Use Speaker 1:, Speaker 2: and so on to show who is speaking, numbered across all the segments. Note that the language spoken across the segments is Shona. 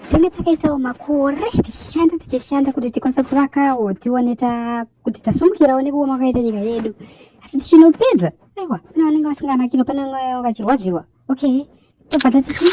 Speaker 1: tenge takaitawo makore tichishanda tichishanda kuti tikwanise kuvakawo tione kuti tasumukirawo nekuoma kwakaita nyika yedu asi tichinopedza aiwa pane vanenge vasinganakino pane vanenge vachirwadziwa okay tobva tatichi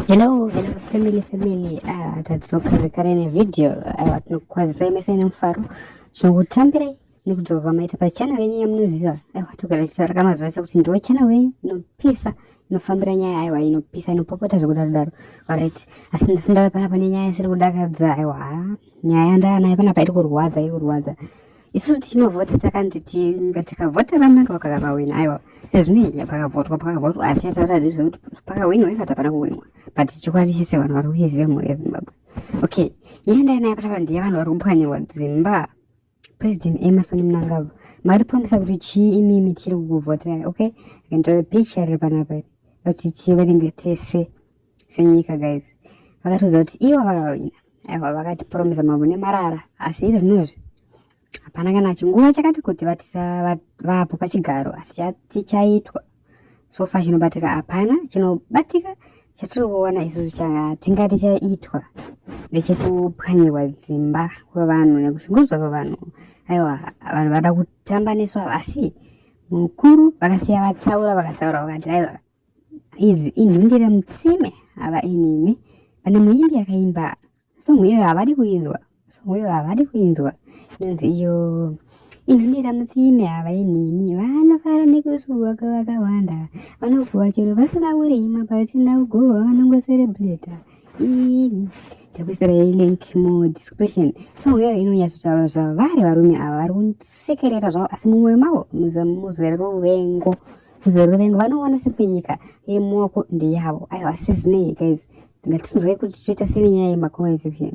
Speaker 1: Hello, hello family family. Ah, tadzoka zvekare nevideo ah, tinokukwazisai mese nemufaro zvokutambirai nekudzoka kwamaita pachannel yenyu yamunoziva aiwa ah, togara tichitaura kamazuva ese kuti ndiwo channel yenyu inopisa inofambira nyaya aiwa inopisa inopopota zvekudaro daro orit asi ndasi ndava panapa nenyaya isiri kudakadza aiwa nyaya yandava nayo panapa iri kurwadza iri kurwadza isusu tichinovhota takanzi tinga tikavhota vananga vakakavawina aiwa sezvinei pakavhotwa pakavhotwa hatichataura zvezvekuti pakawinwa ivo tapana kuwinwa but chokwadi chese vanhu vari kuchiziva mhuri yezimbabwe okay nyaya ndainayo patapa ndiye vanhu vari kupwanyirwa dzimba president emerson mnangagwa mari promisa kuti chii imimi tichiri kukuvhoterai okay akanditora picture riri panapa kuti tiverenge tese senyika guys vakatiudza kuti ivo aiwa vakatipromisa mambo nemarara asi iri zvinozvi hapana kana chinguva chakati kuti vapo pachigaro asi chati chaitwa so far chinobatika hapana chinobatika chatiri kuona isusu chatingati chaitwa ndechekupwanyirwa dzimba kwevanhu nekushungurudzwa kwevanhu aiwa vanhu vada kutambaniswa asi mukuru vakasiya vataura vakataura vakati aiwa Idzi inhundira mutsime ava inini. Pane muimbi akaimba song iyoyo havadi kuinzwa. Song iyoyo havadi kuinzwa. Inonzi iyo inhundira mutsime ava inini. Vanofara nekusuwa kwavakawanda. Vanokuwa chero vasina kurima patina kugowa vanongoserebreta. Ini takuisira link mu description so uyo inonyatsotaura zvavari varume ava vari kusekerera zvavo asi mumwe mavo muzere ruvengo kuzere vengu vanoona sekwenyika iri mumaoko ndeyavo aiwa sezvinei guys ngatinzwai kuti toita sene nyaya yemacomment section